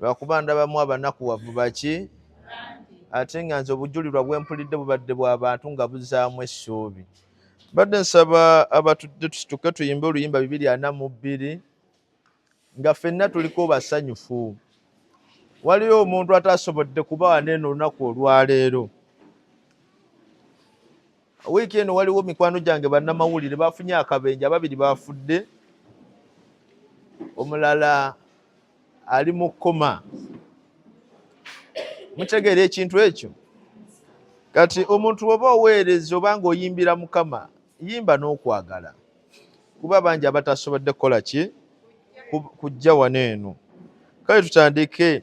lwakuba ndabamu abanakuwavu baki ate nga nze obujulirwa bwempulidde bubadde bwa bantu nga buzaamu essuubi mbadde nsaba abatudde tusituke tuyimbe oluyimba bibiri ana mu bbiri nga ffenna tuliko basanyufu waliyo omuntu atasobodde kubawa neeno olunaku olwaleero Wiiki eno waliwo mikwano gyange bannamawulire bafunye akabenje, ababiri bafudde, omulala ali mu kkoma. Mutegeera ekintu ekyo? Kati omuntu oba oweereza oba ng'oyimbira Mukama, yimba n'okwagala, kuba bangi abatasobodde kukola ki kujja wano eno. Kale tutandike.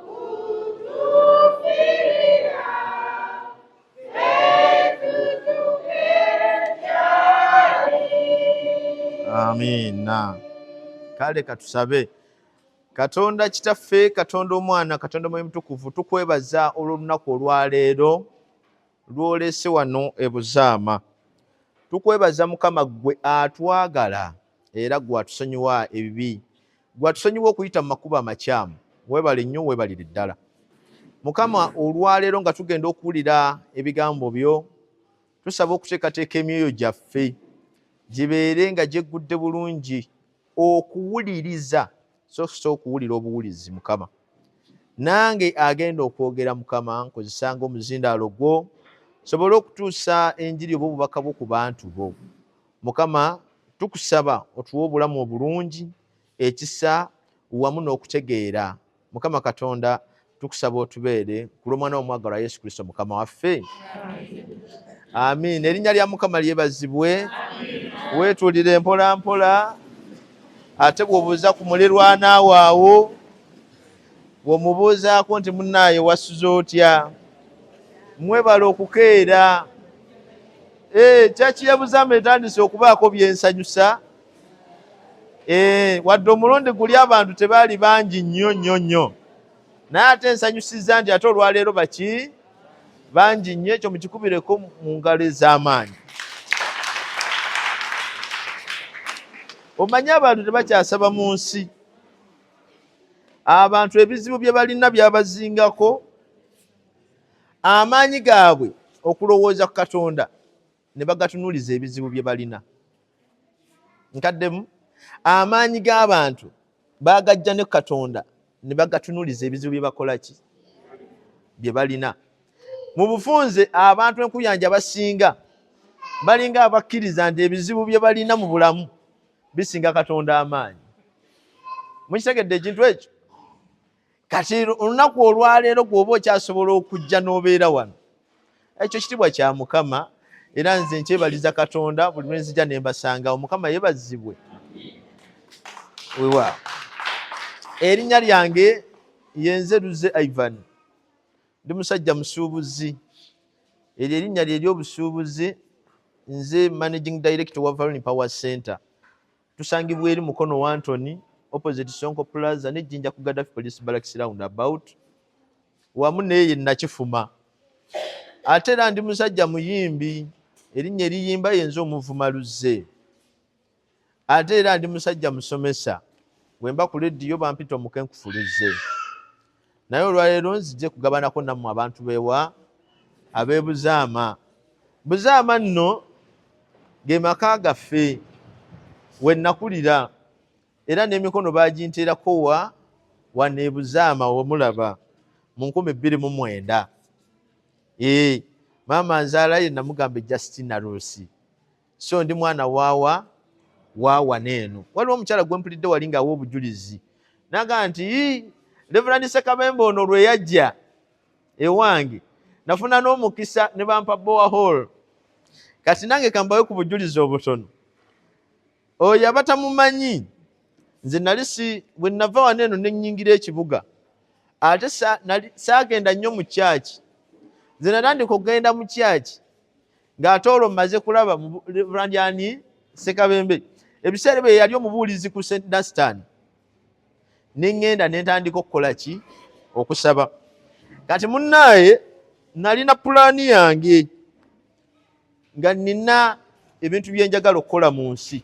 amiina kale katusabe katonda kitaffe katonda omwana katonda mwoyo mutukuvu tukwebaza olw'olunaku olwaleero lwolese wano ebuzaama tukwebaza mukama ggwe atwagala era gwe atusonyiwa ebibi gwe atusonyiwa okuyita mu makubo amakyamu webale nnyo webalire ddala mukama olwaleero nga tugenda okuwulira ebigambo byo tusaba okuteekateeka emyoyo gyaffe gibeere nga gyeggudde bulungi okuwuliriza sokusa okuwulira obuwulizi mukama nange agenda okwogera mukama nkozesanga omuzindaalo gwo sobole okutuusa enjiri oba obubaka bwo ku bantu bo mukama tukusaba otuwa obulamu obulungi ekisa wamu n'okutegeera mukama katonda tukusaba otubeere ku lw'omwana womwagalwa yesu kristo mukama waffe amiina erinnya lya mukama lyebazibwe weetulire mpola mpola ate bwobuuza ku mulirwana waawo bwomubuuzaako nti munaaye wasuze otya mwebale okukeera Ee, eh, kyaki yabuzama etandise okubaako byensanyusa ee, eh, wadde omulundi guli abantu tebaali bangi nnyo nnyo nnyo naye ate ensanyusiza nti ate olwaleero baki bangi nnyo ekyo mukikubireko mu ngalo ez'amaanyi omanyi abantu tebakyasaba mu nsi abantu ebizibu bye balina byabazingako amaanyi gaabwe okulowooza ku katonda ne bagatunuliza ebizibu bye balina nkaddemu amaanyi g'abantu bagajja ne katonda ne bagatunuliza ebizibu bye bakola ki bye balina mu bufunze abantu enkuyanja basinga balinga abakkiriza nti ebizibu bye balina mu bulamu bisinga katonda amaanyi mukitegedde ekintu ekyo kati olunaku olwaleero gwoba okyasobola okujja n'obeera wano ekyo kitibwa kya mukama era nze nkyebaliza katonda buli lwenzija nembasanga omukama yebazibwe wewa erinnya lyange yenze luze ivan ndi musajja musuubuzi eryo erinnya lye eryobusuubuzi nze managing director wa valoni power center Tusangibwa eri Mukono Wantoni opposite Sonko Plaza ne Jinja ku Gaddafi Police Barracks round about wamu neye nakifuma ate era ndi musajja muyimbi erinnya eriyimba yenza omuvuma luzze ate era ndi musajja musomesa bwemba ku lediyo bampita omukenkufuluzze naye olwaleero nzije kugabanako nammwe abantu bewa abebuzaama buzaama nno ge maka gaffe wenakulira era n'emikono baginteerako wa wanebuzaama womulaba mu nkumi bbiri mu mwenda ee maama nzaala ye namugamba ejjasitina ruusi so ndi mwana wawa wawa neeno waliwo omukyala gwempulidde wali ngaawa obujulizi naga nti reverand sekabembe ono lweyajja ewange nafuna n'omukisa ne bampa boa hall kati nange kambawe ku bujulizi obutono oyo abatamumanyi nze nali si bwe nava wano eno nenyingira ekibuga ate saagenda nnyo mu kyaki nze natandika okugenda mu kyaki ng'ate olwo mmaze kulaba mu randyani sekabembe ebiseera bye yali omubuulizi ku st dastan ne ŋŋenda ne ntandika okukola ki okusaba kati munnaaye nalina pulaani yange nga nina ebintu bye njagala okukola mu nsi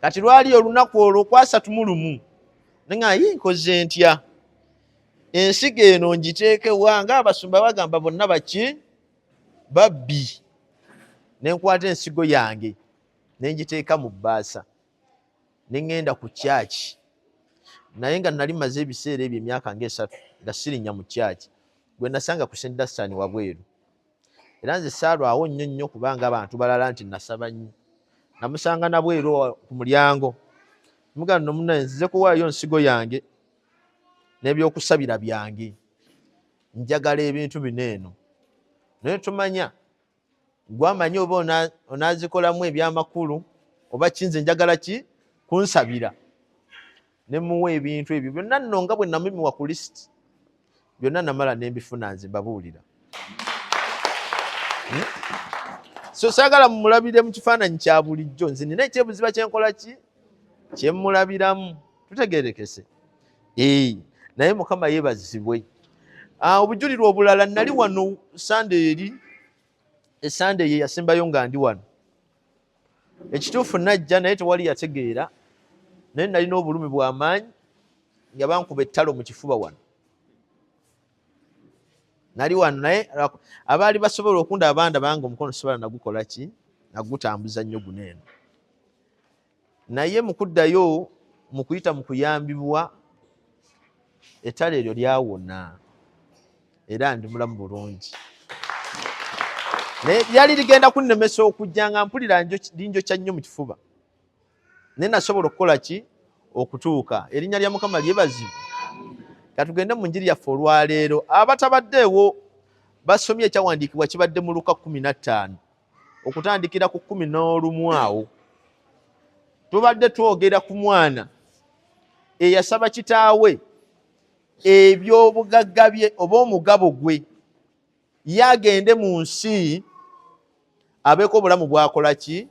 kati lwali olunaku olwo kwasatu mu lumu nanga yi nkoze ntya ensigo eno ngiteekewa nga abasumba bagamba bonna baki babbi ne nkwata ensigo yange ne ngiteeka mu bbaasa ne ŋŋenda ku kyaki naye nga nali maze ebiseera ebyo emyaka ngaesatu nga sirinya mu kyaki gwe nasanga ku st dastan wabweru era nze saalwawo nnyo nnyo kubanga abantu balala nti nasaba nnyo namusanga nabweru ku mulyango mugano nomunaye nzize kuwaayo nsigo yange n'ebyokusabira byange njagala ebintu bino eno naye tumanya gwamanyi oba onazikolamu ebyamakulu oba kinze njagala ki kunsabira nemuwa ebintu ebyo byonna nno nga bwe namimiwa ku lisiti byonna namala nembifuna nze mbabuulira hmm? so sagala mumulabire mu kifaananyi kya bulijjo nze nina ekyebuziba kyenkola ki kyemulabiramu tutegerekese ee naye mukama yebazibwe ah, obujulirwa obulala nali wano sande eri esande ye yasembayo nga ndi wano ekituufu najja naye tewali yategeera naye nalina obulumi bwamaanyi nga bankuba ettalo mu kifuba wano nali wano naye abaali basobola okunda abanda bange omukono sibala nagukola ki nagutambuza nnyo guneeno naye mukuddayo mukuyita mukuyambibwa ettale eryo lyawona era ndi mulamu bulungi naye lyali ligenda kunnemesa okujja nga mpulira linjokya nnyo mu kifuba naye nasobola okukola ki okutuuka erinnya lya mukama lyebazibu katugende mu njiri yaffe olwaleero abatabaddeewo basomye ekyawandiikibwa kibadde mu luka kumi na ttaano okutandikira ku kumi n'olumu awo tubadde twogera ku mwana eyasaba kitaawe ebyobugagga bye oba omugabo gwe ye agende mu nsi abeeko obulamu bwakola ki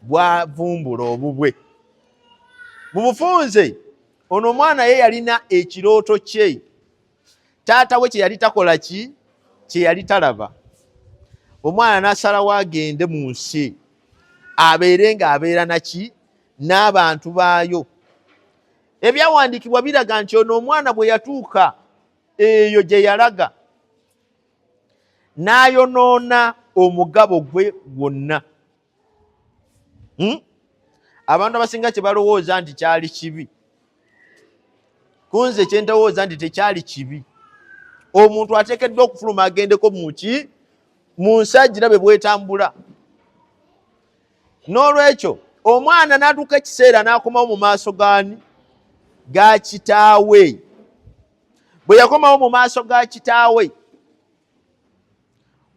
bwavumbula obubwe mu bufunze ono omwana ye yalina ekirooto kye taata we kyeyali takola ki kyeyali talaba omwana nasalawo agende mu nsi abeere nga abeera naki n'abantu baayo ebyawandiikibwa biraga nti ono omwana bwe yatuuka eyo gye yalaga n'ayonoona omugabo gwe gwonna hmm? abantu abasinga kyebalowooza nti kyali kibi kunze kyentowooza nti tekyali kibi omuntu atekeddwa okufuluma agendeko muki mu nsajira bwe bwetambula n'olwekyo omwana natuuka ekiseera n'akomawo mu maaso gani ga kitaawe bwe yakomawo mu maaso ga kitaawe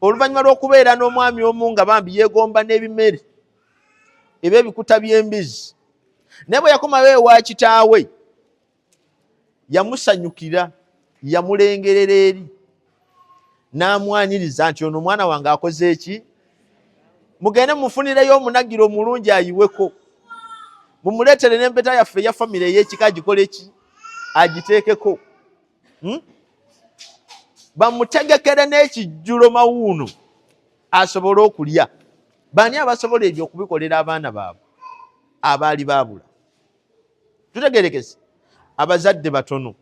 oluvannyuma lw'okubeera n'omwami omu nga bambi yeegomba n'ebimere eba ebikuta by'embizi naye bwe yakomawo ewa kitaawe yamusanyukira yamulengerera eri n'amwaniriza nti ono omwana wange akoze eki mugende mufunireyo omunagiro omulungi ayiweko mumuleetere n'empeta yaffe eya famire ey'ekika agikole ki agiteekeko hmm? bamutegekere n'ekijjulo mawuuno asobole okulya baani abasobola ebyo okubikolera abaana baabwe abaali baabula tutegerekese abazadde batono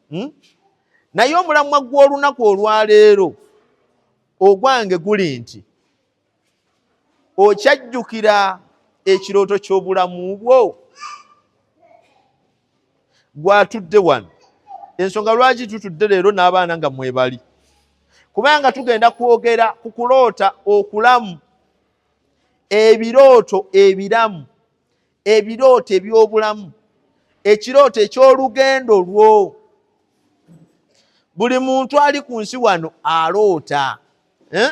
hmm? naye omulamwa gw'olunaku olwaleero ogwange guli nti okyajjukira ekirooto ky'obulamu bwo gwatudde wano ensonga lwaki tutudde leero n'abaana nga mwebali kubanga tugenda kwogera ku kuloota okulamu ebirooto ebiramu ebirooto eby'obulamu ekirooto eky'olugendo lwo buli muntu ali ku nsi wano aloota eh?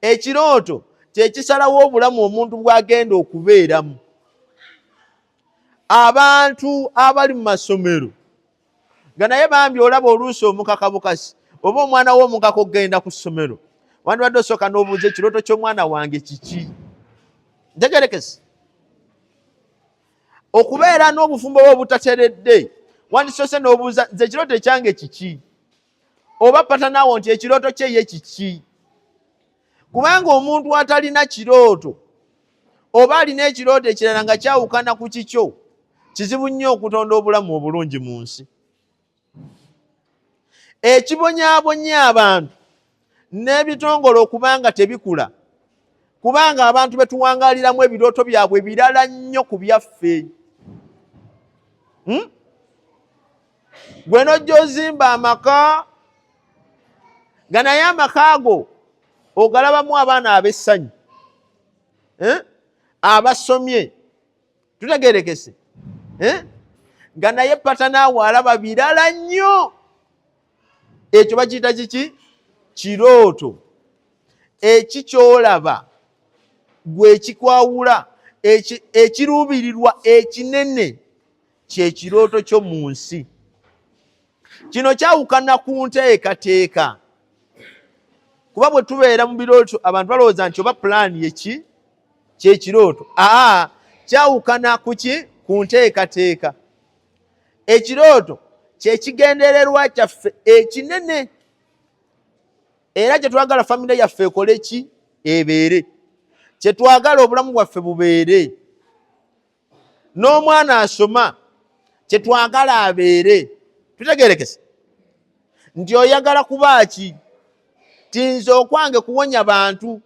ekirooto kyekisalawo obulamu omuntu bwagenda okubeeramu abantu abali mu masomero nga naye bambi olaba oluusi omukaka bukasi oba omwana wo omukaka okugenda ku ssomero wandibadde osooka n'obuuza ekirooto ky'omwana wange kiki ntegerekesi okubeera n'obufumbo bwe obutateredde wandisoose n'obuuza nze ekirooto ekyange kiki oba patanawo nti ekirooto kye ye kiki kubanga omuntu atalina kirooto oba alina ekirooto ekirala nga kyawukana ku kikyo kizibu nnyo okutonda obulamu obulungi mu nsi ekibonyabonya abantu n'ebitongole okubanga tebikula kubanga abantu betuwangaliramu ebirooto byabwe birala nnyo ku byaffe hmm? gwe nojja ozimba amaka nga naye amaka ago ogalabamu abaana ab'essanyu eh? abasomye tutegerekese eh? nga naye patanaawe alaba birala nnyo ekyo bakiyita kiki kirooto eki kyolaba gwekikwawula ekiruubirirwa ekinene kyekirooto kyo mu nsi kino kyawukana ku nteekateeka kuba bwe tubeera mu birooto abantu balowooza nti oba pulaani yeki kyekirooto aa kyawukana ku ki ku nteekateeka ekirooto kyekigendererwa kyaffe ekinene era kyetwagala famire yaffe ekole ki ebeere kyetwagala obulamu bwaffe bubeere n'omwana asoma kyetwagala abeere tutegerekese nti oyagala kuba ki tinze okwange kuwonya bantu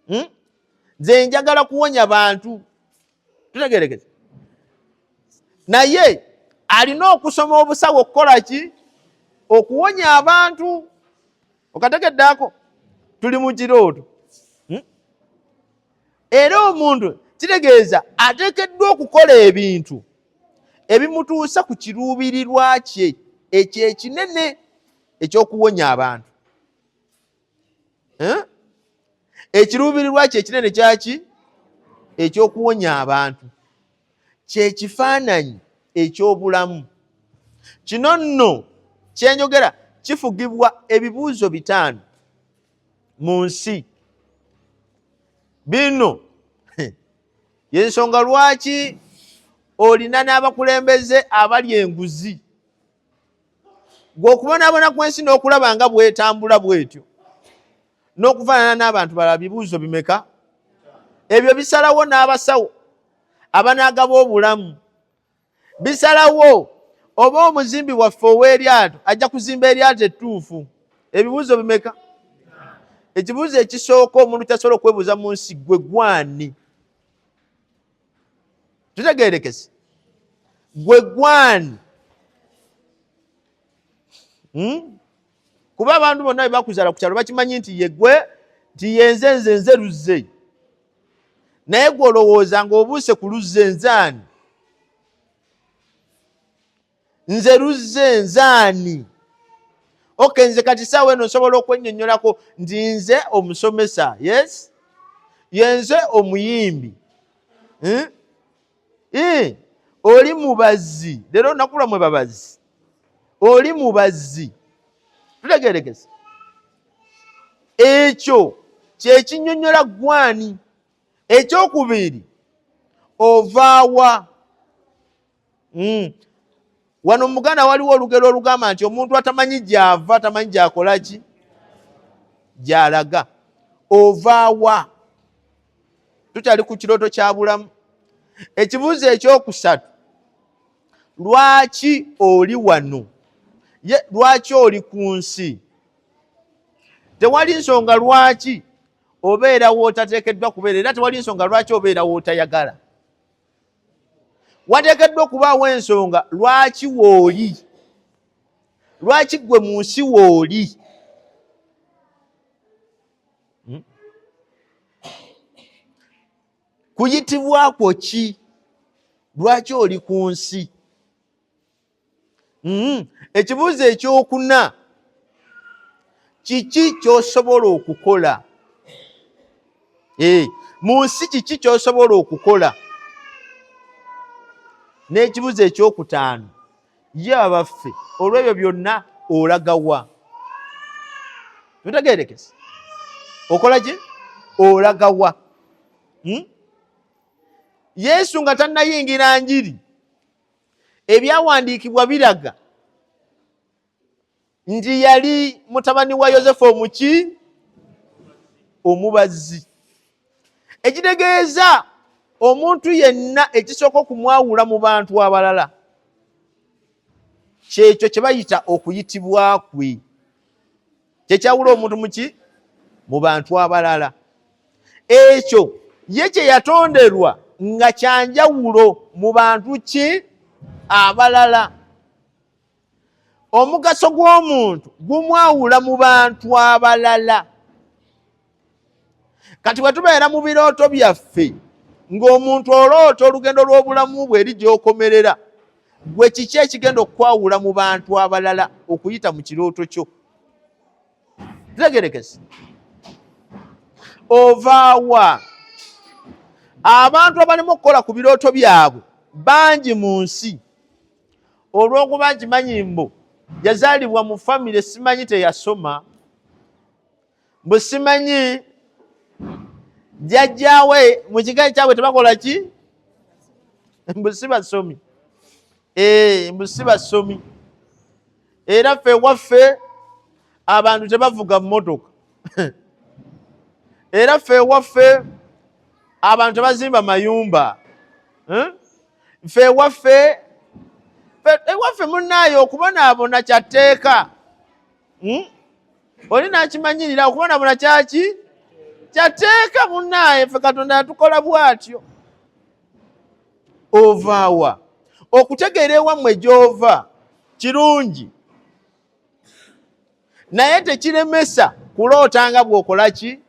hmm? nze njagala kuwonya bantu tutegerekese naye alina okusoma obusawo okukola ki okuwonya abantu okategeddeako tuli mu kirooto era omuntu kitegeeza ateekeddwa okukola ebintu ebimutuusa ku kiruubirirwa kye ekyo ekinene ekyokuwonya abantu eh? ekiruubirirwa kye ekinene kyaki ekyokuwonya abantu kyekifaananyi ekyobulamu kino nno kyenjogera kifugibwa ebibuuzo bitaano mu nsi bino yensonga lwaki olina n'abakulembeze abali enguzi gweokubonaabona ku ensi n'okulaba nga bwetambula bwetyo n'okufaanana n'abantu balala bibuuzo bimeka ebyo bisalawo n'abasawo abanaagaba obulamu bisalawo oba omuzimbi waffe ow'eryato ajja kuzimba eryato ettuufu ebibuuzo bimeka ekibuuzo ekisooka omuntu kyasobola okwebuuza mu nsi gwe gwani tutegerekese gwe gwani hmm? kuba abantu bonna bwe bakuzala ku kyalo bakimanyi nti yegwe nti yenze nze nze luzze naye gwe olowooza ng'obuuse ku luzze nzaani nze luzze nzaani oke nze kati saawa eno nsobola okwennyonnyolako nti nze omusomesa yes yenze omuyimbi hmm? eh, oli mubazzi leero olunaku lwamwe babazzi oli mubazzi tutegerekese ekyo kyekinyonyola gwani ekyokubiri ovaawa hmm. wano mu buganda waliwo olugero olugamba nti omuntu atamanyi gyava tamanyi gyakolaki gyalaga ovaawa tukyali ku kirooto kya bulamu ekibuuzo ekyokusatu lwaki oli wano ye lwaki oli ku nsi tewali nsonga lwaki obeera wootateekeddwa kubeera era tewali nsonga lwaki obeera wootayagala wateekeddwa okubaawo ensonga lwaki wooli lwaki ggwe mu nsi wooli hmm? kuyitibwakwo ki lwaki oli ku nsi mm-hmm. ekibuuzo ekyokuna kiki kyosobola okukola eh, mu nsi kiki kyosobola okukola n'ekibuuzo ekyokutaano ye abaffe olw'ebyo byonna olagawa tutegerekese okola ki olagawa hmm? yesu nga tannayingira njiri ebyawandiikibwa biraga nti yali mutabani wa yosefu omuki omubazzi ekitegeeza omuntu yenna ekisooka okumwawula mu bantu abalala kyekyo kye bayita okuyitibwa kwe kyekyawula omuntu muki mu bantu abalala ekyo ye kyeyatonderwa nga kyanjawulo mu bantu ki abalala omugaso gw'omuntu gumwawula mu bantu abalala kati bwe tubeera mu birooto byaffe ng'omuntu oloota olugendo lw'obulamu bwe eri gy'okomerera gwe kiki ekigenda okukwawula mu bantu abalala okuyita mu kirooto kyo tegerekese ovaawa abantu abalimu okukola ku birooto byabwe bangi mu nsi olw'okuba nkimanyi mbu yazaalibwa mu famire simanyi teyasoma mbu simanyi jajjawe mu kika ekyabwe tebakola ki mbu si basomi eh, mbu si basomi era ffe waffe abantu tebavuga mmotoka era ffe waffe abantu tebazimba mayumba eh? ffe waffe ewaffe munaayo okubonaabona kyatteeka hmm? oli nakimanyirira okubonabona kyaki kyateeka munaaye fe katonda yatukola bwatyo ovaawa okutegeera ewammwe gyova kirungi naye tekiremesa kuloota nga bwokola ki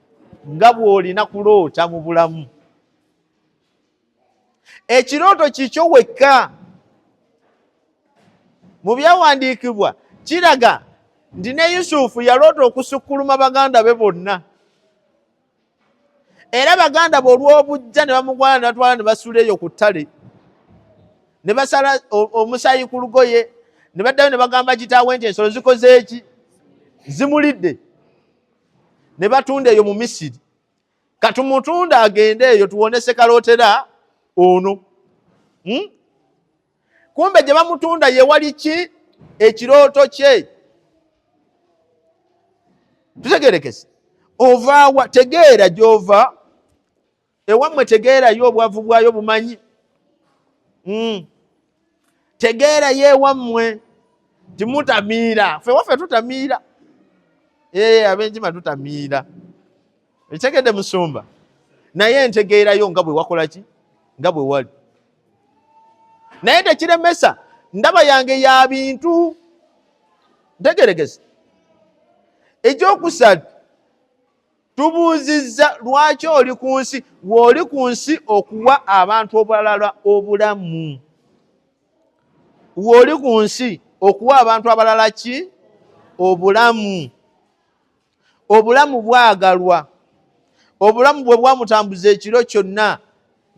nga bwolina kuloota mu bulamu ekirooto kikyo wekka mu byawandiikibwa kiraga nti ne yusufu yaloota okusukkuluma baganda be bonna era baganda be olw'obujja ne bamugwana ne batwala ne basula eyo ku ttale ne basala omusaayi ku lugoye ne baddayo ne bagamba kitaawe nti ensolo zikoze eki zimulidde ne batunda eyo mu misiri katumutunda agende eyo tuwone sekalotera ono hmm? kumbe gye bamutunda yewali ki ekirooto kye tutegerekese ovaawa tegeera gyova ewammwe tegeerayo obwavu bwayo bumanyi hmm. tegeera ye ewammwe timutamiira fe waffe tutamiira ee eh, abenkima tutamiira ekitegedde musumba naye entegeerayo nga bwe wakola ki nga bwe wali naye tekiremesa ndaba yange ya bintu ntegeregezi ekyokusatu tubuuzizza lwaki oli ku nsi weoli ku nsi okuwa abantu obulalala obulamu weoli ku nsi okuwa abantu abalala ki obulamu obulamu bwagalwa obulamu bwe bwamutambuza ekiro kyonna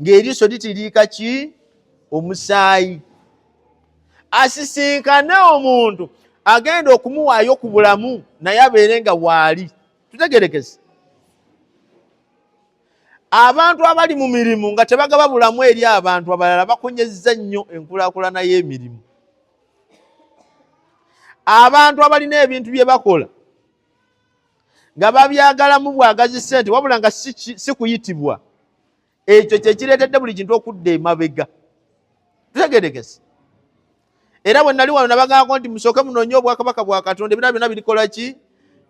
ng'eriiso litiriika ki omusaayi asisinkane omuntu agenda okumuwaayo ku bulamu naye abeere nga waali tutegerekese abantu abali mu mirimu nga tebagaba bulamu eri abantu abalala bakonyezza nnyo enkulakulana y'emirimu abantu abalina ebintu bye bakola nga babyagalamu bwagazi sente wabula nga si kuyitibwa si ekyo kyekireetedde buli kintu okudda emabega tutegerekese era bwe nali wano nabagambako nti musooke munoonye obwakabaka bwa katonda ebirala byonna birikola ki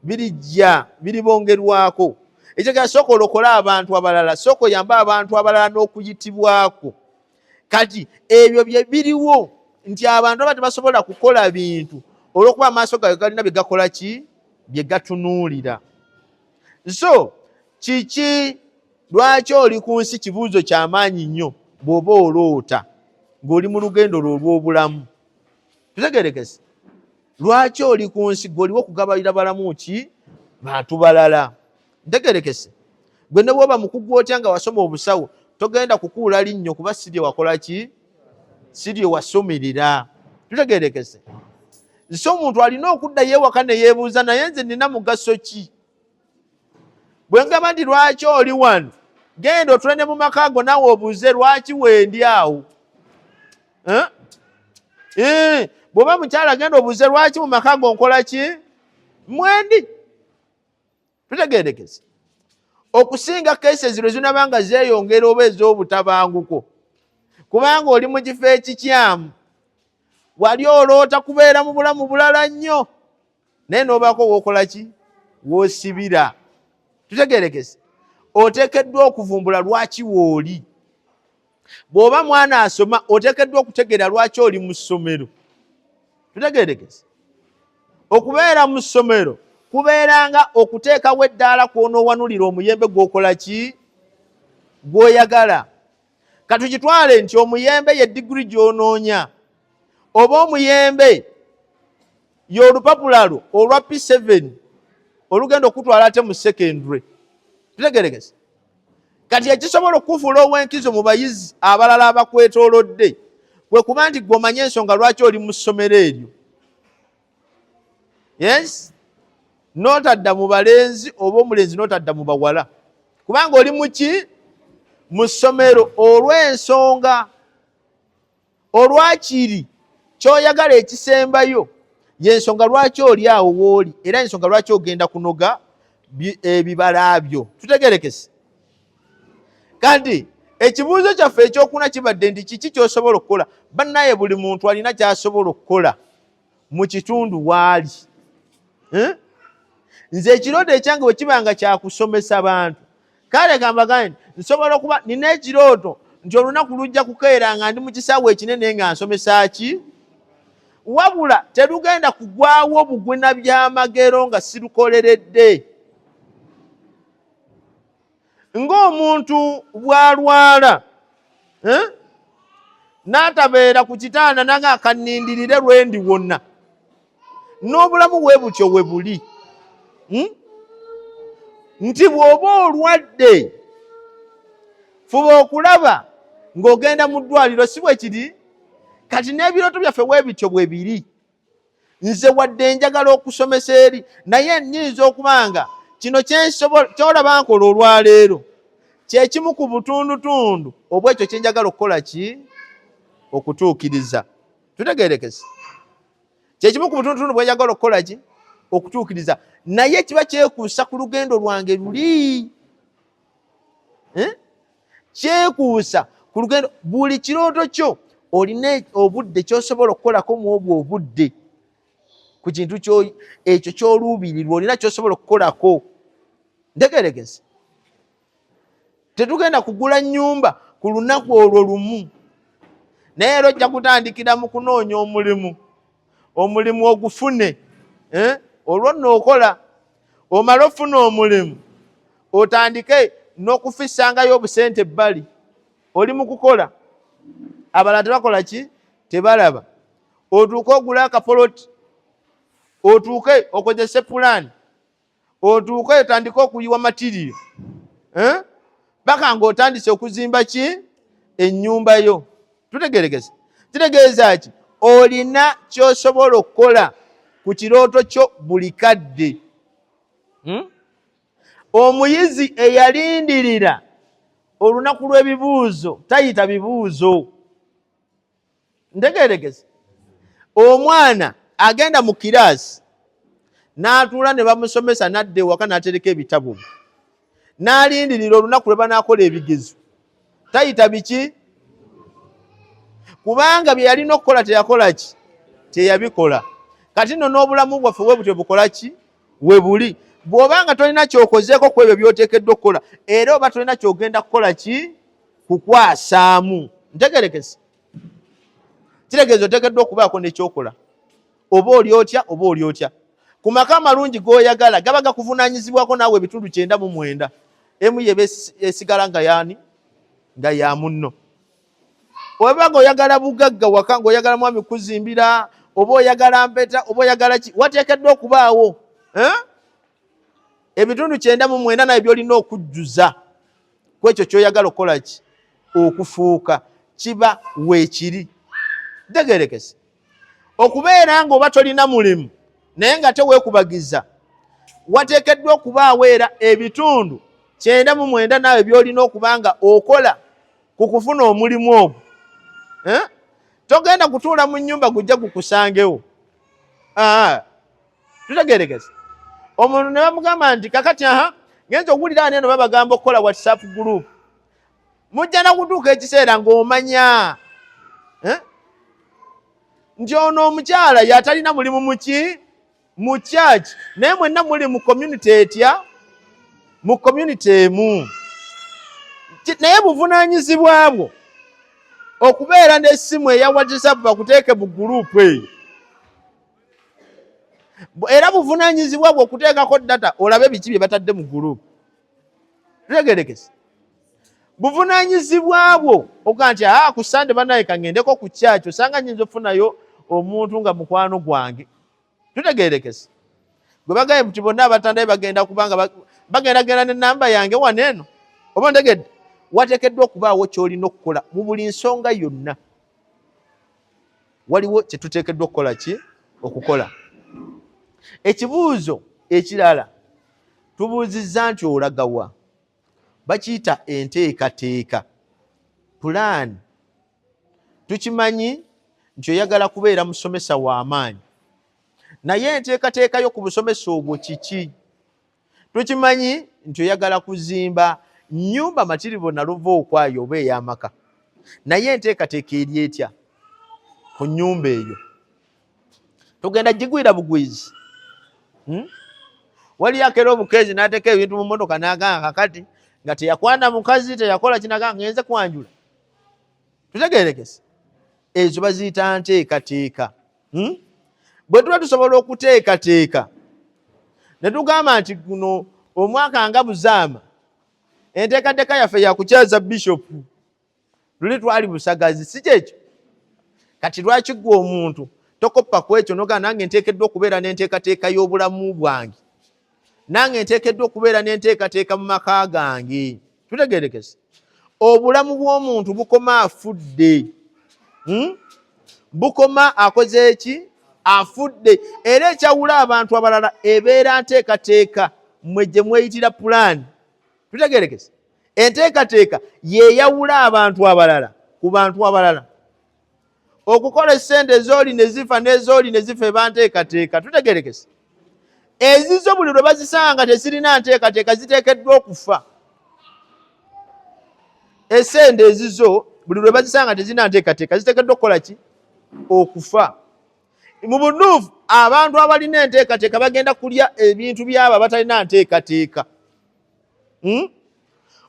birijja biribongerwako ekyogera sooka olokole abantu abalala sooka oyambe abantu abalala n'okuyitibwako kati ebyo bye biriwo nti abantu aba tebasobola kukola bintu olwokuba amaaso gayo galina bye gakola ki bye gatunuulira so kiki lwaki oli ku nsi kibuuzo kyamaanyi nnyo bw'oba oloota ng'oli mu lugendo lwo olw'obulamu tutegerekese lwaki oli ku nsi gwe oliwo okugabalira balamu ki bantu balala ntegerekese gwe ne bwoba mukugu otya nga wasoma obusawo togenda kukuula linnyo kuba sirye wakola ki sirye wasomerera tutegerekese nsi omuntu alina okuddayo ewaka neyeebuuza naye nze nina mugaso ki bwe ngamba nti lwaki oli wano genda otule ne mu maka ago nawe obuze lwaki wendi awo eh? Eh, bw'oba mukyala genda obuze lwaki mu maka ago nkola ki mwendi tutegeerekeze okusinga kesezi lwe zinaba nga zeeyongera oba ez'obutabanguko kubanga oli mu kifo ekikyamu wali oloota kubeera mu bulamu bulala nnyo naye nobaako wokola ki wosibira tutegerekese otekeddwa okuvumbula lwaki wooli bw'oba mwana asoma otekeddwa okutegeera lwaki oli mu ssomero tutegerekese okubeera mu ssomero kubeeranga okuteekawo eddaala kwonoowanulira omuyembe gwokola ki gwoyagala katukitwale nti omuyembe ye digiri gy'onoonya oba omuyembe y'olupapula lwo olwa p7 olugenda okutwala ate mu secondary tutegeregese kati ekisobola okukufuula ow'enkizo mu bayizi abalala abakwetoolodde kwe kuba nti gwe omanye ensonga lwaki oli mu ssomero eryo yes notadda mu balenzi oba omulenzi notadda mu bawala kubanga oli muki mu ssomero olw'ensonga olwakiri kyoyagala ekisembayo yensonga lwaki oli awo wooli era ensonga lwaki ogenda kunoga ebibala eh, byo tutegerekese kandi ekibuuzo kyaffe ekyokuna kibadde nti kiki kyosobola okukola bannaye buli muntu alina kyasobola okukola mu kitundu waali eh? nze ekirooto ekyange bwe kiba nga kyakusomesa bantu kale gamba gani nsobola okuba nina ekirooto nti olunaku lujja kukeera nga ndi mu kisaawe ekinene nga nsomesa ki wabula terugenda kugwawo bugwina byamagero nga sirukoleredde ng'omuntu bw'alwala eh? n'atabeera ku kitanda nanga akanindirire lwe ndi wonna n'obulamu bwe butyo we buli hmm? nti bw'oba olwadde fuba okulaba ng'ogenda mu ddwaliro si bwe kiri kati n'ebirooto byaffe bwe bityo bwe biri nze wadde njagala okusomesa eri naye nyinza okuba nga kino kyolaba nkola olwaleero kyekimu ku butundutundu obwekyo kyenjagala okukola ki okutuukiriza tutegerekese kyekimu ku butundutundu bwenjagala okukola ki okutuukiriza naye kiba kyekuusa ku lugendo lwange luli eh? kyekuusa ku lugendo buli kirooto kyo olina e, obudde kyosobola okukolako mu obwo obudde ku kintu ekyo kyoluubirirwa olina kyosobola okukolako ntegeregezi tetugenda kugula nyumba ku lunaku olwo lumu naye era ojja kutandikira mu kunoonya omulimu omulimu ogufune eh? olwo nno okola omala ofuna omulimu otandike n'okufisangayo obusente ebbali oli mu kukola abalala tebakola ki tebalaba otuuke ogula akapoloti otuuke okozese pulaani otuuka etandika okuyiwa matiriyo eh? baka nga otandise okuzimba ki enyumba yo tutegeregeza kitegeeza ki olina kyosobola okukola ku kirooto kyo buli kadde hmm? omuyizi eyalindirira olunaku lw'ebibuuzo tayita bibuuzo ntegeeregezi omwana agenda mu kiraasi n'atuula ne bamusomesa n'adda ewaka n'atereka ebitabo bye n'alindirira olunaku lwe banaakola ebigezo tayita biki kubanga bye yalina okukola teyakola ki teyabikola kati nno n'obulamu bwaffe we butyo bukola ki we buli bw'oba nga tolina ky'okozeeko ku ebyo by'oteekeddwa okukola era oba tolina ky'ogenda kukola ki kukwasaamu ntegerekese kitegeeza otekeddwa okubaako nekyokola oba oli otya oba oli otya ku maka amalungi goyagala gaba gakuvunanyizibwako naawe ebitundu kyenda mu mwenda emu yeba esigala nga yaani nga ya munno oba nga oyagala bugagga waka nga oyagala mwami kuzimbira oba oyagala mpeta oba oyagala ki wateekeddwa okubaawo eh? ebitundu kyenda mu mwenda naye byolina okujjuza kwekyo kyoyagala okukolaki okufuuka kiba weekiri tegerekese okubeera nga oba tolina mulimu naye nga teweekubagiza wateekeddwa okubaawo era ebitundu kyenda mu mwenda naawe byolina okuba nga okola ku kufuna omulimu ogwo eh? togenda kutuula mu nyumba gujja gukusangewo ah. tutegerekese omuntu ne bamugamba nti kakati aha ngenza okuwulira ani eno babagamba okukola whatsapp group mujja nakutuuka ekiseera ng'omanya eh? nti ono omukyala yatalina mulimu muki mu church naye mwenna muli mu community etya mu community emu naye buvunanyizibwa bwo okubeera n'essimu eya whatsapp bakuteeke mu gurupu eyo era buvunanyizibwa bwe okuteekako data olabe biki bye batadde mu gurupu tutegerekese buvunanyizibwa bwo oga nti aa ah, ku sande banaye kaŋendeko ku kyaki osanga nyinza okufunayo omuntu nga mukwano gwange tutegerekese gwe bagaye nti bonna abatandaye bagenda kubanga bagenda genda ne namba yange wano eno oba ntegedde wateekeddwa okubaawo kyolina okukola mu buli nsonga yonna waliwo kye tuteekeddwa okukola ki okukola ekibuuzo ekirala tubuuzizza nti olagawa bakiyita enteekateeka pulaani tukimanyi nti oyagala kubeera musomesa w'amaanyi naye enteekateeka yo ku busomesa obwo kiki tukimanyi nti oyagala kuzimba nyumba matiribo naluva okwayo oba eyamaka naye enteekateeka eri etya ku nyumba eyo tugenda gigwira bugwizi hmm? waliyo akera obukeezi nateeka ebintu mu motoka naganga kakati nga teyakwana mukazi teyakola kinaganga ngenze kwanjula tutegerekese ezo baziyita nteekateeka hmm? bwe tuba tusobola okuteekateeka ne tugamba nti guno omwaka nga buzaama enteekateeka yaffe yakukyaza bishopu luli twali busagazi si kyekyo kati lwaki gwe omuntu tokoppa ku ekyo nogaa nange nteekeddwa okubeera n'enteekateeka y'obulamu bwange nange nteekeddwa okubeera n'enteekateeka mu maka gange tutegerekese obulamu bw'omuntu bukoma afudde hmm? bukoma akoze eki afudde era ekyawula abantu abalala ebeera nteekateeka mwe gye mweyitira pulaani tutegerekese enteekateeka yeyawula abantu abalala ku bantu abalala okukola esente ezooli ne zifa n'ezooli ne zifa eba nteekateeka tutegerekese ezizo buli lwe bazisanga tezirina nteekateeka ziteekeddwa okufa esente ezizo buli lwe bazisanga tezirina nteekateeka ziteekeddwa okukola ki okufa mu bunuufu abantu abalina enteekateeka bagenda kulya ebintu byabo abatalina nteekateeka hmm?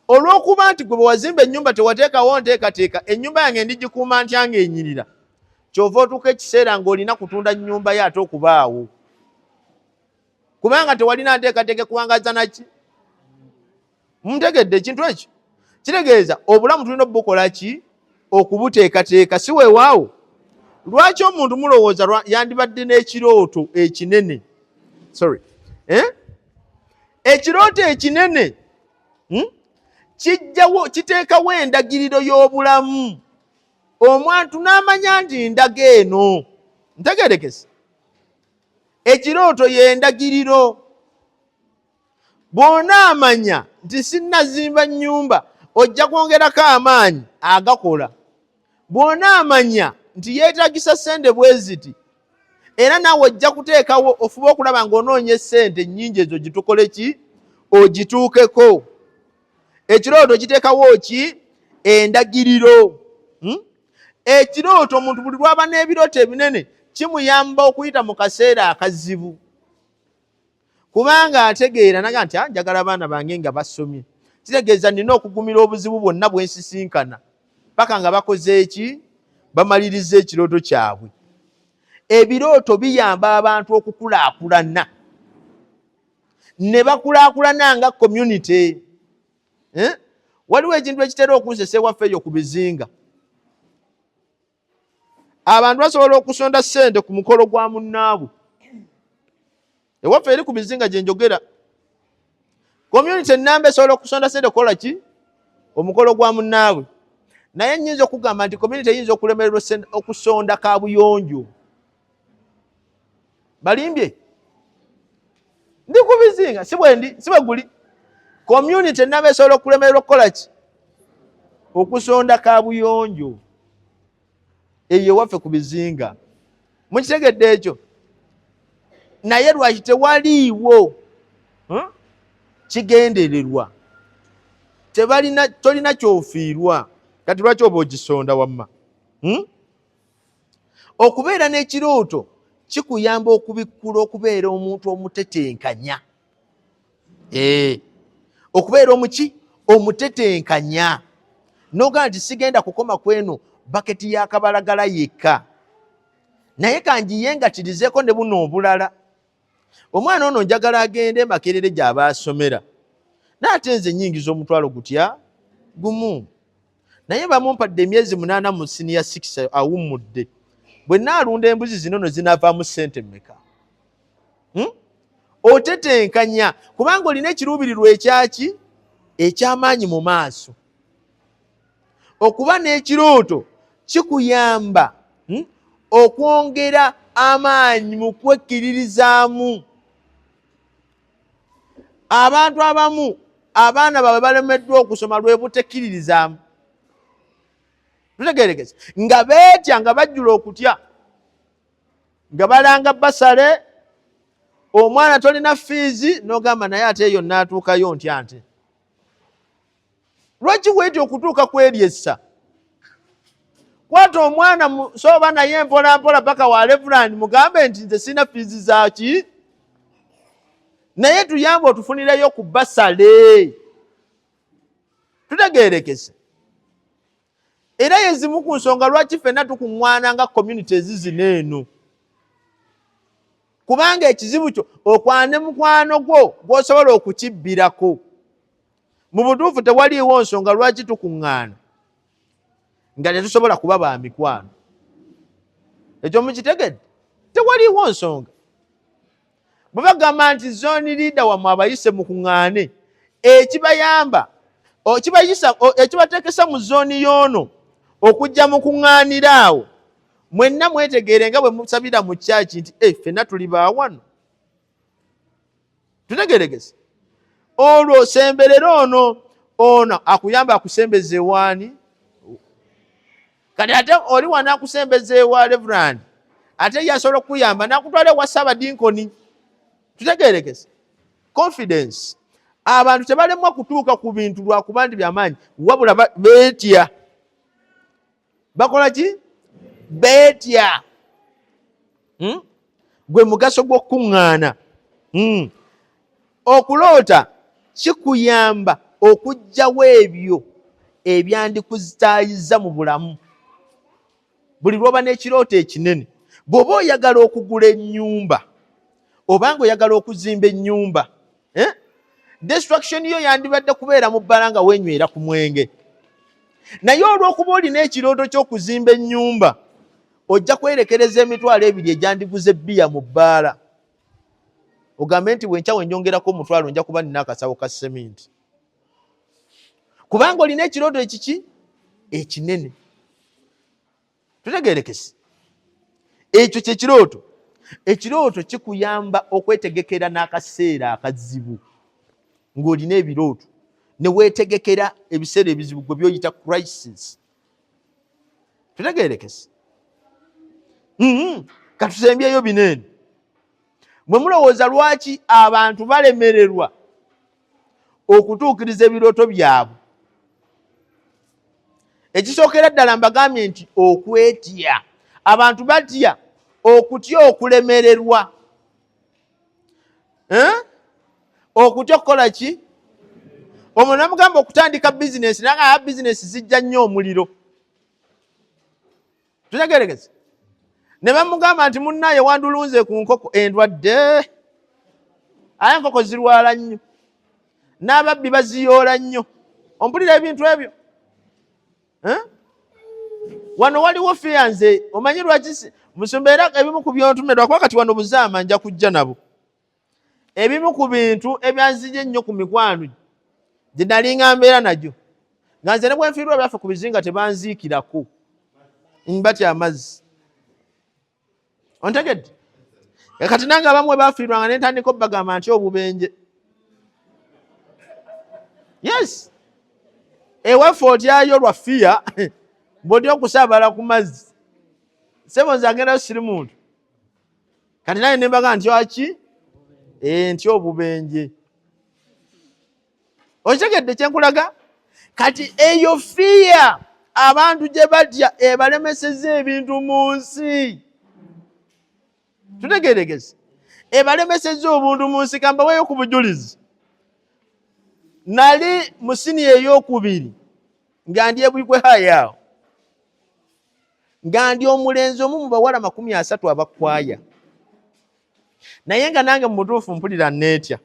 olw'okuba nti gwe bwewazimba ennyumba tewateekawo nteekateeka ennyumba yange ndigikuuma ntya nga enyirira kyova otuuka ekiseera ng'olina kutunda nnyumba yo ate okubaawo kubanga tewalina nteekateeka ekuwangaza naki muntegedde ekintu ekyo kitegeeza obulamu tulina obubukola ki okubuteekateeka si weewaawo lwaki omuntu mulowooza yandibadde n'ekirooto ekinene sorry eh? ekirooto ekinene hmm? kijjawo kiteekawo endagiriro y'obulamu omwantu n'amanya nti ndaga eno ntegerekese ekirooto y'endagiriro bwona amanya nti sinnazimba nnyumba ojja kwongerako amaanyi agakola bw'onaamanya nti yeetagisa ssente bwe ziti era naawe ojja kuteekawo ofuba okulaba ng'onoonya essente nnyingi ezo gitukole ki ogituukeko ekirooto kiteekawo ki endagiriro hmm? ekirooto omuntu buli lwaba n'ebirooto ebinene kimuyamba okuyita mu kaseera akazibu kubanga ategeera naga nti ah, njagala abaana bange nga basomye kitegeeza nina okugumira obuzibu bwonna bwensisinkana paka nga bakoze eki bamaliriza ekirooto kyabwe ebirooto biyamba abantu okukulaakulana ne bakulaakulana nga community eh? waliwo ekintu ekitera okunzesa ewaffe eyo ku bizinga abantu basobola okusonda sente ku mukolo gwa munnaabwe ewaffe eri ku mizinga gye njogera community enamba esobola okusonda sente okukola ki omukolo gwa munnaabwe naye nyinza okugamba nti community eyinza okulemererwa okusonda kabuyonjo balimbye ndi ku bizinga si bwendi si bwe guli community naba esobola okulemerera okukola ki okusonda kabuyonjo eyo ewaffe ku bizinga mukitegedde ekyo naye lwaki tewaliiwo hmm? kigendererwa tebalina tolina kyofiirwa kati lwaki oba ogisonda wamma hmm? okubeera n'ekirooto kikuyamba okubikkula okubeera omuntu omutetenkanya eh, okubeera omuki omutetenkanya noga nti sigenda kukoma kweno baketi yakabalagala yekka naye kangiye nga kirizeeko ne buno obulala omwana ono njagala agende makerere gyaba asomera naye ate nze nyingiza omutwalo gutya gumu naye bamumpadde emyezi munaana mu siniya six awummudde bwe naalunda embuzi zino no zinavaamu ssente mmeka hmm? otetenkanya kubanga olina ekiruubirirwa ekyaki ekyamaanyi mu maaso okuba n'ekirooto kikuyamba hmm, okwongera amaanyi mu kwekkiririzaamu abantu abamu abaana baabwe balemeddwa okusoma lwe butekkiririzaamu tutegerekese nga beetya nga bajjula okutya nga balanga basale omwana tolina fiizi nogamba naye ate eyo natuukayo ntya nte lwaki weeti okutuuka kweryessa kwata omwana sooba naye mpolampola paka wa levulandi mugambe nti nze sirina fiizi zaki naye tuyamba otufunireyo ku basale tutegerekese era yezimu ku nsonga lwaki fenna tukuŋwana nga community ezizina eno kubanga ekizibu kyo okwane mukwano gwo gwosobola okukibbirako mu butuufu tewaliiwo nsonga lwaki tukuŋŋaana nga tetusobola kuba ba mikwano ekyo mukitegedde tewaliiwo nsonga bwe bagamba nti zooni liida wamwe abayise mukuŋŋaane ekibayamba okibayisa ekibateekesa mu zooni y'ono okujja mu kuŋŋaanira awo mwenna mwetegeere nga bwe musabira mu kyaki nti e eh, ffenna tuli baawano tutegeregese olwo osemberere ono ono akuyamba akusembeza ewaani kati ate oli wanakusembeza ewa reverand ate yasobola okukuyamba nakutwala ewa sabadinkoni tutegerekese confidence abantu tebalemwa kutuuka ku bintu lwakuba nti byamaanyi wabula betya bakola ki beetya hmm? gwe mugaso gw'okukuŋŋaana hmm. okuloota kikuyamba okugyawo ebyo ebyandikuzitaayiza mu bulamu buli lwoba n'ekirooto ekinene bw'oba oyagala okugula ennyumba obanga oyagala okuzimba ennyumba eh? destruction yo yandibadde kubeera mu bbala nga wenywera ku mwenge naye olw'okuba olina ekirooto ky'okuzimba ennyumba ojja kwerekereza emitwalo ebiri egyandiguze bbiya mu bbaala ogambe nti bwenkyawo enyongerako omutwalo nja kuba nina akasawo ka seminti kubanga olina ekirooto ekiki ekinene tutegerekese ekyo kyekirooto ekirooto kikuyamba okwetegekera n'akaseera akazibu ng'olina ebirooto newetegekera ebiseera ebizibu gwe byoyita crisis tutegerekese mm-hmm. katusembyeyo bineeno mwe mulowooza lwaki abantu balemererwa okutuukiriza ebirooto byabwe ekisookera ddala mbagambye nti okwetya abantu batya okutya okulemererwa eh? okutya okukola ki omwo namugamba okutandika bizinesi nanga aya bizinesi zijja nnyo omuliro tutegeregeze ne bamugamba nti munnaye wandulunze ku nkoko endwadde aye enkoko zirwala nnyo n'ababbi baziyoola nnyo ompulira ebintu ebyo wano waliwo fiya nze omanyi lwaki musumba era ebimu ku byontumirwa kuba kati wano buzaama nja kujja nabo ebimu ku bintu ebyanzija ennyo ku mikwano gye nalinga mbeera nagyo nga nze ne bwenfiirwa byaffe ku bizinga tebanziikirako mbatya amazzi ontegedde e kati nange abamu we bafiirwanga ne ntandika obagamba nti obubenje yes ewaffe otyayo lwa fiya bwoti okusaabala ku mazzi sebo nze agendayo siri muntu kati naye nembaga nti aki eh, nti obubenje okitegedde kyenkulaga kati eyo fiya abantu gye batya ebalemeseza ebintu mu nsi tutegeregezi ebalemeseza obuntu mu nsi kambaweyo ku bujulizi nali musini eyokubiri nga ndi ebwikwe hayaawo nga ndi omulenzi omu mu bawala makumi asatu abakwaya naye nga nange mu butuufu mpulira neetya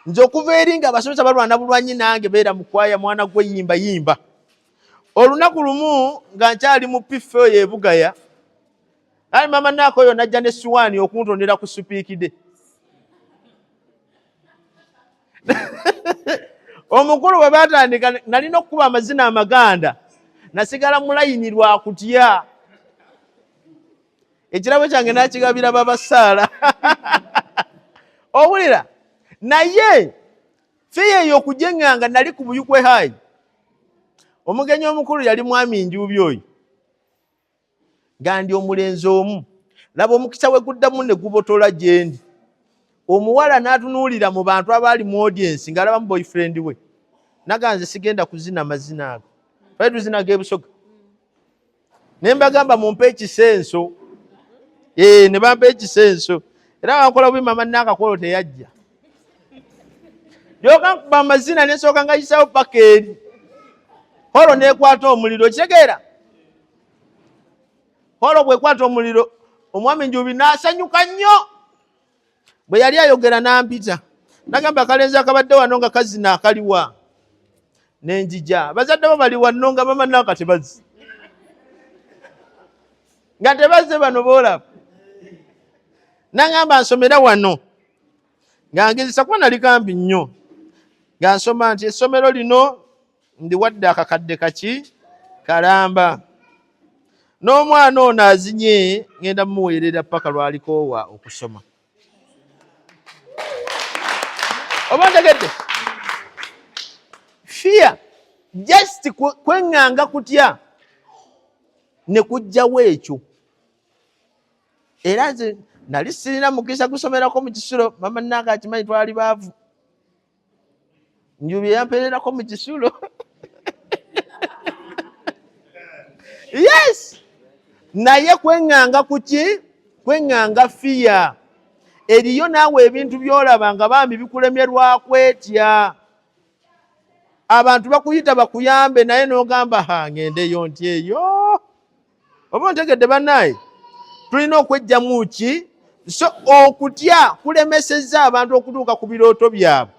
nze okuva eri nga abasomesa balwana bulwanyi nange beera mukwaya mwana gwe yimba yimba olunaku lumu nga nkyali mu piffe oyo ebugaya ali mama naako oyo najja ne siwaani okuntondera ku supiikide omukulu bwe batandika nalina okukuba amazina amaganda nasigala mulayini lwa kutya ekirabo kyange nakigabira babasaala owulira naye fiya eyo okujeŋŋanga nali ku buyukwe hayi omugenyi omukulu yali mwami njuubi oyo gandi omulenzi omu laba omukisa we guddamu ne gubotola gyendi omuwala n'atunuulira mu bantu abaali mu odiensi ng'alabamu boyfriend we naganze sigenda kuzina mazina ago twali tuzina g'ebusoga ne mbagamba mumpe ekisenso ee eh, ne bampa ekisenso era bankola bubi mama naakakolo teyajja yoka nkuba amazina nesooka nga yisawo paka eri holo nekwata omuliro kitegeera holo bwekwata omuliro omwami njubi nasanyuka nnyo bwe yali ayogera nampita nagamba akalenzi akabadde wano nga kazina akaliwa nenjija bazadde bo bali wanno nga bamanaka tebazi nga tebazze bano boolaba nagamba nsomera wano nga ngezesa kuba nali kampi nnyo nga nsoma nti essomero lino ndiwadde akakadde kaki kalamba n'omwana ono azinye ngenda mumuweerera paka lwalikoowa okusoma oba ntegedde fiya just kweŋŋanga kutya ne kujjawo ekyo era nze nali sirina mukisa gusomerako mu kisulo mama nange akimanyi twali baavu njubi yampererako mu kisulo yes naye kweŋŋanga ku ki kweŋŋanga fiya eriyo naawe ebintu byolaba nga bambi bikulemyerwakwetya abantu bakuyita bakuyambe naye nogamba ha ngendeyo nti eyo oba ontegedde banaye tulina okwejjamu ki so okutya kulemesezza abantu okutuuka ku birooto byabwe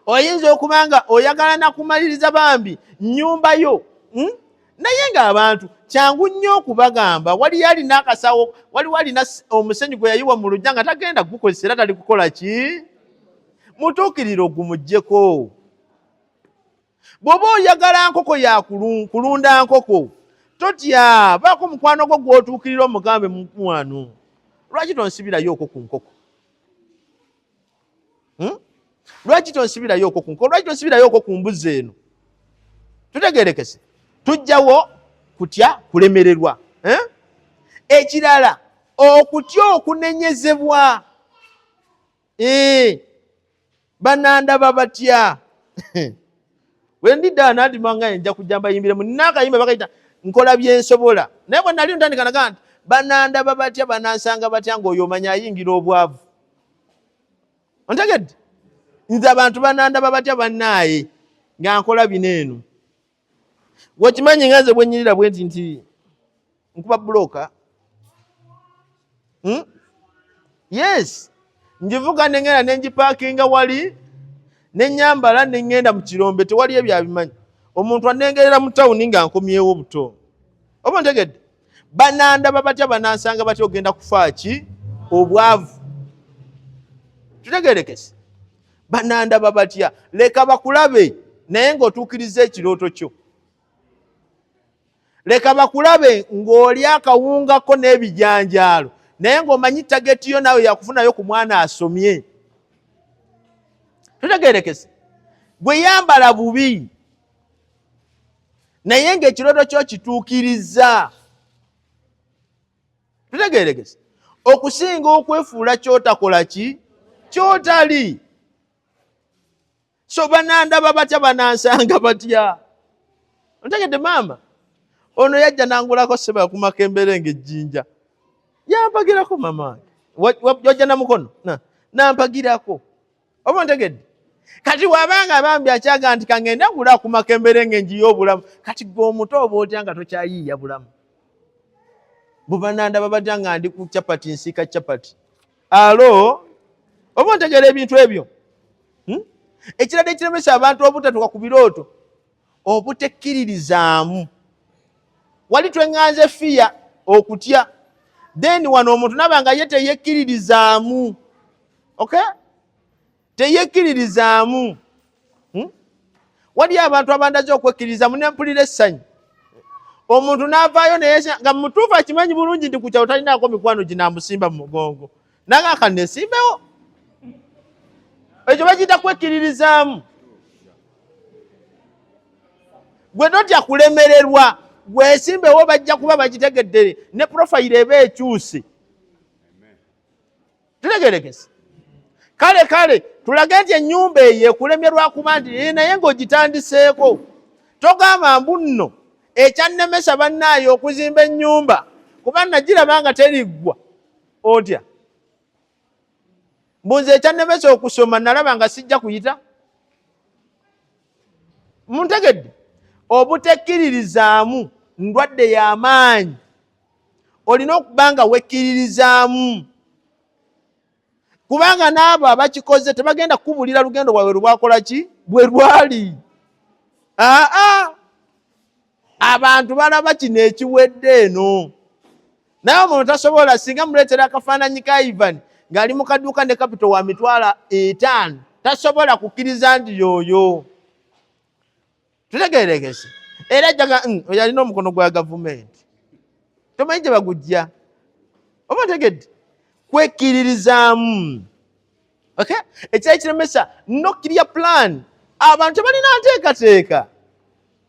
oyinza okuba nga oyagala nakumaliriza bambi nyumba yo hmm? naye ng'abantu kyangu nnyo okubagamba waliyo alina akasawo waliwo alina omusenyu gwe yayiwa mu lujja nga tagenda kugukozesa era tali kukola ki mutuukirire ogumugyeko bw'oba oyagala nkoko ya kulunda nkoko totya baako mukwano gwo gw'otuukirira omugambe mukwano lwaki tonsibirayo okwo ku nkoko hmm? lwaki tonsibirayo okwo ku nkoko lwaki tonsibirayo okwo ku mbuzi eno tutegerekese tujjawo kutya kulemererwa eh? ekirala okutya okunenyezebwa ee banandaba batya wendidda nandimanga enja kujja mbayimbiremu nakayimba bakayita nkola byensobola naye bwe nali ntandika naga nti banandaba batya banansanga batya ngaoyo omanya ayingira obwavu ontegedde nze abantu banandaba batya bannaaye nga nkola bino eno wakimanyi nga nze bwenyirira bwenti nti nkuba buloka hmm? yes njivuga nengenda nenjipakinga wali nenyambala nengenda mu kirombe tewali ebyo abimanyi omuntu anengerera mu tawuni nga nkomyewo buto oba ntegedde banandaba batya banansanga batya ogenda kufaaki obwavu tutegerekese banandaba batya leka bakulabe naye ng'otuukiriza ekirooto kyo leka bakulabe ng'oli akawungako n'ebijanjaalo naye ng'omanyi tageti yo naawe yakufunayo ku mwana asomye tutegerekese gwe yambala bubi naye ng'ekirooto kyo kituukirizza tutegeregese okusinga okwefuula kyotakola ki kyotali so banandaba batya banansanga batya ntegedde maama ono yajja nangulako seba yakumako embeera nga ejjinja yampagirako mama wajja namukono nampagirako oba ontegedde kati wabanga bambi akyaga nti kangende ngula ku makembere nga enjiyo obulamu kati gwe omuto oba otya nga tokyayiiya bulamu bubananda babatya nga ndi ku capati nsiika capati alo oba ontegera ebintu ebyo hmm? ekirala ekiremesa abantu obutatuka ku birooto obutekkiririzaamu wali tweŋŋanze fiya okutya then wano omuntu naba nga ye teyekkiririzaamu ok teyekkiririzaamu hmm? waliyo abantu abandaze okwekkiririzaamu ne mpulira essanyu omuntu n'avaayo naye nga mutuufu akimanyi bulungi nti ku kyalo talinaako mikwano ginamusimba mu mugongo nanga akanesimbewo ekyo bagiyita kwekkiririzaamu gwe totya kulemererwa gwesimbewo bajja kuba bagitegeddere ne profayiro eba ekyusi tutegerekese kale kale tulage nti ennyumba eyo ekulemye lwakuba nti ee naye ng'ogitandiseeko togamba mbu nno ekyannemesa bannaayo okuzimba ennyumba kuba nagiraba nga teriggwa otya mbuzi ekyannemesa okusoma nalaba nga sijja kuyita muntegedde obutekkiririzaamu ndwadde y'amaanyi olina okuba nga wekkiririzaamu kubanga n'abo abakikoze tebagenda kukubulira lugendo lwawe lubwakola ki bwe lwali aa abantu balaba kino ekiwedde eno naye omuntu tasobola singa muleetera akafaananyi ka ivan ng'ali mu kaduuka ne kapito wa mitwalo etaano tasobola kukkiriza nti yooyo tutegeerekese era jaga mm, yalina omukono gwa gavumenti tomanyi gye bagujja oba tegedde kwekkiririzaamu okay ekyali kiremesa nokiriya plan abantu tebalina nteekateeka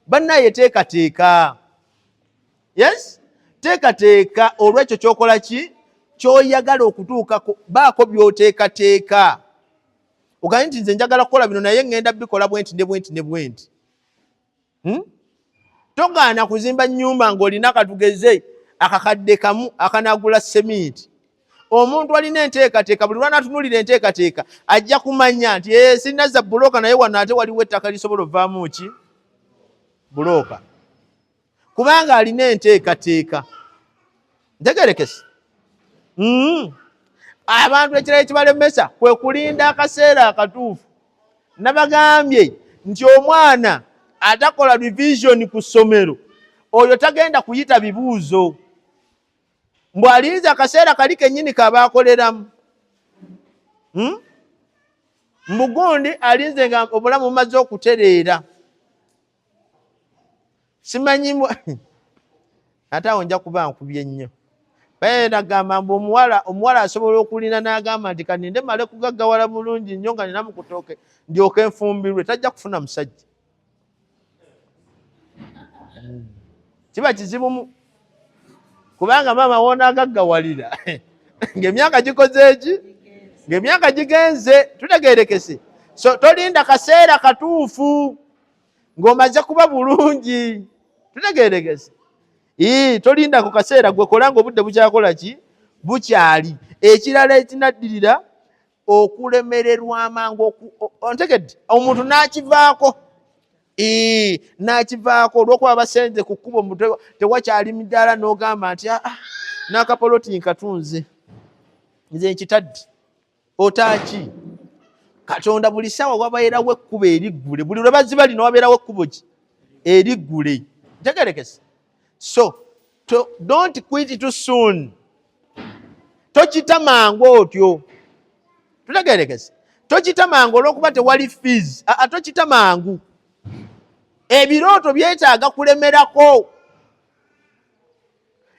bannaye teekateeka yes teekateeka olwekyo kyokola ki kyoyagala okutuukako baako byoteekateeka ogambye nti nze njagala kukola bino naye ŋŋenda bikola bwenti ne bwenti ne bwenti hmm? togaana kuzimba nyumba ngaolina katugeze akakadde kamu akanagula seminti omuntu alina enteekateeka buli lwanatunulira enteekateeka ajja kumanya nti eh, sinaza bulooka naye wano ate waliwo ettaka lisobola ovaamu ki bulooka kubanga alina enteekateeka ntegerekese mm. abantu ekirala ekibalemesa kwe kulinda akaseera akatuufu nabagambye nti omwana atakola revision ku ssomero oyo tagenda kuyita bibuuzo mbu alinze akaseera kali kenyini kabaakoleramu hmm? mbugundi alinze nga obulamu bumaze okutereera simanyi ate awo nja kuba nkubye nnyo baye nagamba mbu omuwala omuwala asobola okulina nagamba nti kaninde male kugaggawala bulungi nnyo nga nina mukutooke ndyoke nfumbirwe tajja kufuna musajja kiba kizibumu kubanga maama woona agaggawalira ngaemyaka gikoze eki ngaemyaka gigenze tutegerekese so tolinda kaseera katuufu ng'omaze kuba bulungi tutegeeregese ii tolinda ku kaseera gwe kola ng'obudde bukyakola ki bukyali ekirala ekinaddirira okulemererwa amangu ontegedde omuntu n'akivaako ii n'akivaako olw'okuba basenze ku kkubo tewakyali midaala n'ogamba nti aa ah, ah, n'akapoloti nkatunze nze nkitadde otaaki katonda buli sawa wabeerawo ekkubo eriggule buli lwe baziba lino wabeerawo ekkubo ki eriggule ntegerekese so to, don't quit to soon tokita mangu otyo tutegerekese tokita mangu olwokuba tewali fees aa tokita mangu ebirooto byetaaga kulemerako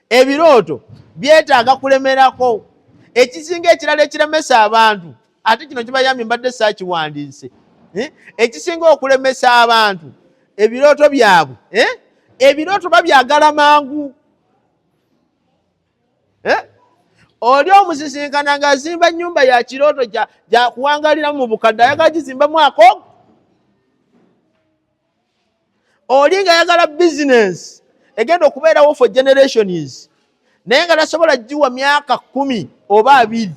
ebirooto byetaaga kulemerako ekisinga ekirala ekiremesa abantu ate kino kibayambye mbadde saakiwandiise eh? ekisinga okulemesa abantu ebirooto byabwe eh? ebirooto babyagala mangu eh? oli omusisinkana ngaazimba nyumba ya kirooto gyakuwangaliramu mu bukadde ayagala gizimbamu akogo oli nga yagala bizinensi egenda okubeerawo for generations naye nga tasobola giwa myaka kumi oba abiri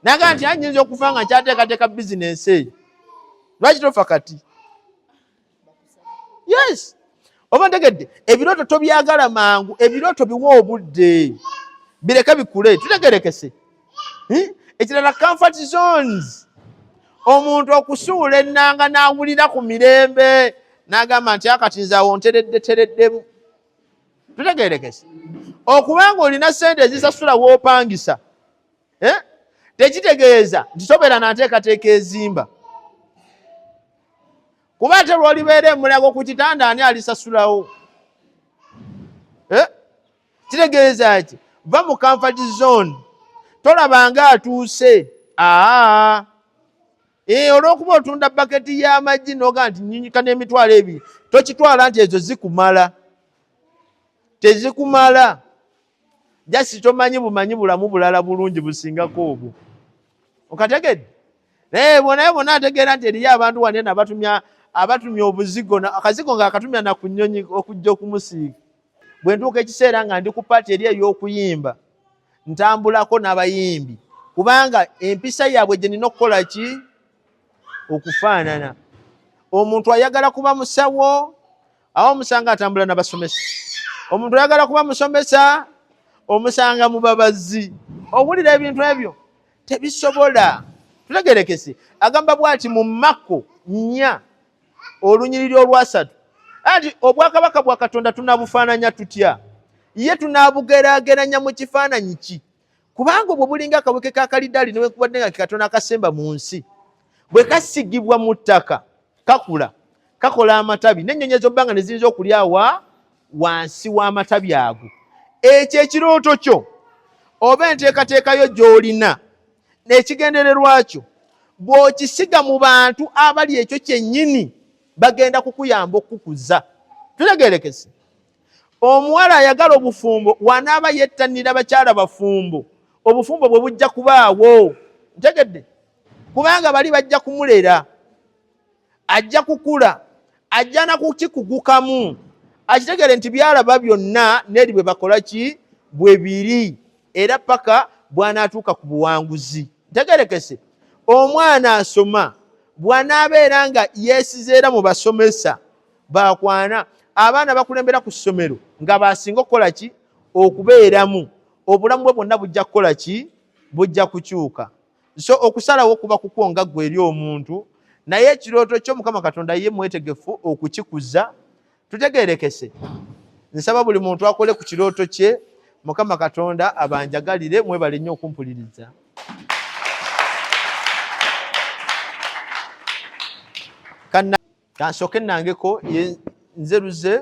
naga nti anyinza okufa nga nkyateekateeka bizinensi eyo lwaki tofa kati yes oba ntegedde ebirooto tobyagala mangu ebirooto biwa obudde bireke bikule tutegerekese eh? ekirala comfort zones omuntu okusuula ennanga n'awulira ku mirembe n'agamba nti akati nze awo nteredde tereddemu tutegerekese okubanga olina sente ezisasula wopangisa eh? tekitegeeza nti sobera nanteekateeka ezimba kuba ate lwolibeera emulago ku kitanda ani alisasulawo eh? kitegeeza ki va mu comfort zone tolabanga atuuse aa ee eh, olwokuba otunda baketi y'amagi noga nti nyinyika n'emitwalo ebiri tokitwala nti ezo zikumala tezikumala jasi tomanyi bumanyi bulamu bulala bulungi busingako obwo okategedde naye bonaye bona ategeera nti eriyo abantu wanena abatumya abatumya obuzigo akazigo nga akatumya nakunyonyi okujja okumusiiga bwe ntuuka ekiseera nga ndi ku paati eri ey'okuyimba ntambulako n'abayimbi kubanga empisa yaabwe gye nina okukola ki okufaanana omuntu ayagala kuba musawo awo omusanga atambula nabasomesa omuntu ayagala kuba musomesa omusanga mubabazi owulira ebintu ebyo tebisobola tulegerekese agamba bwati mu makko nnya olunyiriri olwasatu anti obwakabaka bwa katonda tunabufaananya tutya ye tunabugeraageranya mu kifaananyi ki kubanga obwo bulinga akaweke ka kalidaali newekubadde nga kekatonda akasemba mu nsi bwe kasigibwa mu ttaka kakula kakola amatabi n'ennyonyi ezobbanga ne ziyinza okulyawa wansi w'amatabi ago ekyo ekirooto kyo oba enteekateekayo gy'olina n'ekigendererwa kyo bw'okisiga mu bantu abali ekyo kyennyini bagenda kukuyamba okukukuza tutegerekese omuwala ayagala obufumbo wanaaba yettanira bakyala bafumbo obufumbo bwe bujja kubaawo ntegedde kubanga bali bajja kumulera ajja kukula ajja nakukikugukamu akitegere nti byalaba byonna neri bwe bakola ki bwe biri era paka bwanatuuka ku buwanguzi ntegerekese omwana asoma bwanaabeera nga yesizeera mu basomesa bakwana abaana bakulembera ku ssomero nga basinga okukola ki okubeeramu obulamu bwe bwonna bujja kukola ki bujja kukyuka so okusalawo kuba kukwo nga gwe eri omuntu naye ekirooto kyo mukama katonda ye mwetegefu okukikuza tutegerekese nsaba buli muntu akole ku kirooto kye mukama katonda abanjagalire mwebale nnyo okumpuliriza kansooke nangeko nze luze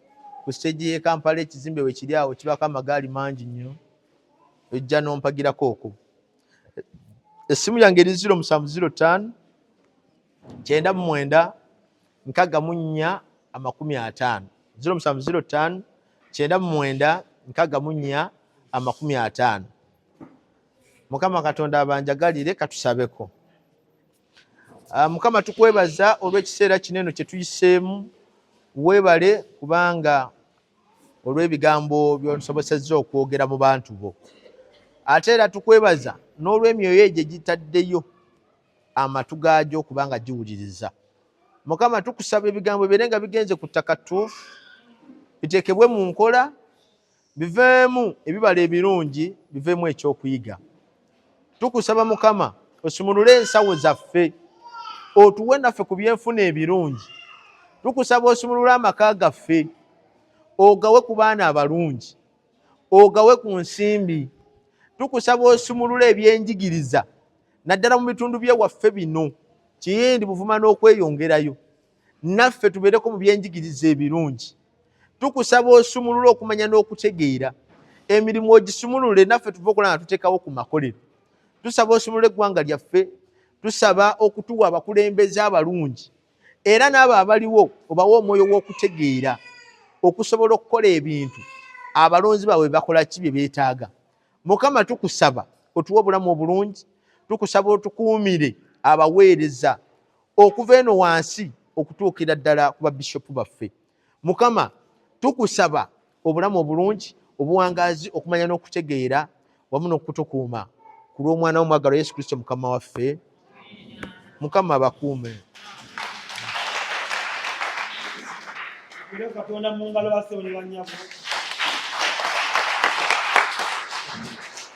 ku siteegi y'e Kampala ekizimbe we kiri awo kibaako amagaali mangi nnyo ojja n'ompagirako okwo essimu yange eri ziro musanvu ziro ttaano kyenda mu mwenda nkaga mu nnya amakumi ataano ziro musanvu ziro ttaano kyenda mu mwenda nkaga mu nnya amakumi ataano mukama katonda abanjagalire katusabeko Ah, mukama tukwebaza olw'ekiseera kino eno kye tuyiseemu weebale kubanga olw'ebigambo by'osobosezza okwogera mu bantu bo ate era tukwebaza n'olw'emyoyo egyo egitaddeyo amatu gaagyo kubanga giwuliriza mukama tukusaba ebigambo bire nga bigenze ku ttaka ttuufu biteekebwe mu nkola biveemu ebibala ebirungi biveemu ekyokuyiga tukusaba mukama osumulule ensawo zaffe otuwe naffe ku byenfuna ebirungi tukusaba osumulule amaka gaffe ogawe ku baana abalungi ogawe ku nsimbi tukusaba osumulule ebyenjigiriza naddala mu bitundu byewaffe bino kiyindi buvuma n'okweyongerayo naffe tubeereko mu byenjigiriza ebirungi tukusaba osumulule okumanya n'okutegeera emirimu ogisumulule naffe tuva okulaba nga tuteekawo ku makolero tusaba osumulule eggwanga lyaffe tusaba okutuwa abakulembeze abalungi era n'abo abaliwo obawa omwoyo w'okutegeera okusobola okukola ebintu abalonzi baabwe bakola ki bye beetaaga mukama tukusaba otuwa obulamu obulungi tukusaba otukuumire abaweereza okuva eno wansi okutuukira ddala ku babishopu baffe mukama tukusaba obulamu obulungi obuwangaazi okumanya n'okutegeera wamu n'okutukuuma ku lw'omwana womwagalo yesu kristo mukama waffe mukama abakuume katonda mu ngalo basewonebanyabo